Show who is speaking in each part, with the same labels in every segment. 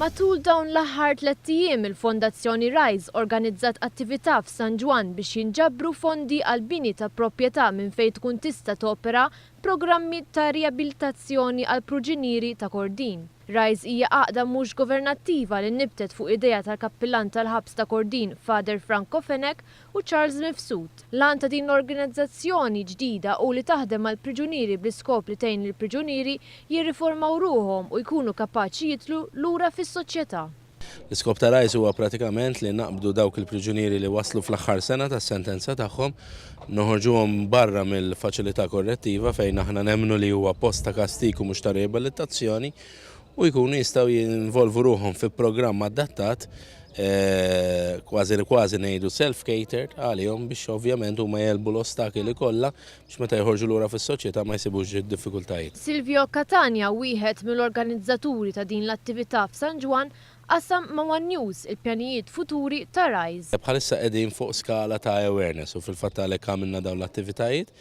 Speaker 1: Matul dawn l-aħħar tlett ijiem il-Fondazzjoni Rise organizzat attività f'San Ġwann biex jinġabru fondi għall-bini ta' propjetà minn fejn tkun tista' topera programmi ta' riabilitazzjoni għall-pruġinieri ta' Kordin. Rise hija għaqda mhux governattiva li nibtet fuq idea tal-Kappillan tal-Ħabs ta' Kordin, Father Franco Fenech, u Charles Mifsud. L-għan ta' din l-organizzazzjoni ġdida hu li taħdem mal-priġunieri bl-iskop li tgħin lill-priġunieri jirriformaw ruħhom u jkunu kapaċi jidħlu lura fis-soċjetà. L-iskop ta'
Speaker 2: Rise huwa pratikament li naqbdu dawk il-priġunieri li waslu fl-aħħar sena tas-sentenza tagħhom, noħorġuhom barra mill-faċilità korrettiva fejn aħna nemmnu li huwa post ta' kastig u mhux ta' riabilitazzjoni, u jkunu jistgħu jinvolvu ruħhom fi programm adattat kważi li kważi ngħidu self-catered għalihom biex ovvjament huma jelbu l-ostakili kollha biex meta jħorġu lura fis-soċjetà ma jsibux id-diffikultajiet. Silvio Catania,
Speaker 1: wieħed mill-organizzaturi ta' din l-attività f'San Ġwann, qasam ma' one News il-pjanijiet futuri ta' Rise. Bħalissa qegħdin fuq
Speaker 2: skala ta' awareness u fil-fatt għalhekk għamilna dawn l-attivitajiet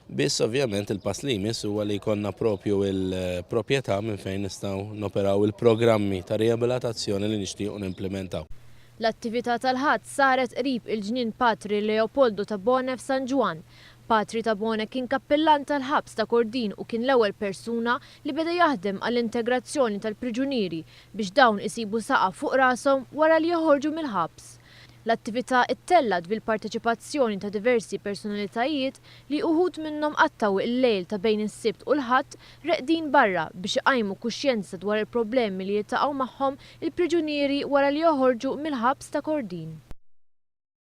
Speaker 2: Biss ovvjament il-pass li jmiss huwa li jkollna propju il-proprjetà minn fejn nistgħu noperaw il-programmi ta' riabilitazzjoni li nixtiequ nimplimentaw. L-attività
Speaker 1: tal-Ħadd saret qrib il-ġnien Patri Leopoldo Tabone f'San Ġwann. Patri Tabone kien kappillan tal-ħabs ta' Kordin u kien l-ewwel persuna li beda jaħdem għall-integrazzjoni tal-priġunieri biex dawn isibu saqaf fuq rashom wara li joħorġu mill-ħabs. L-attività ttellgħet bil-parteċipazzjoni ta' diversi personalitajiet li uħud minnhom qattgħu il-lejl ta' bejn is-Sibt u l-Ħadd reqdin barra biex iqajmu kuxjenza dwar il-problemi li jiltaqgħu magħhom il-priġunieri wara li joħorġu mill-ħabs ta' Kordin.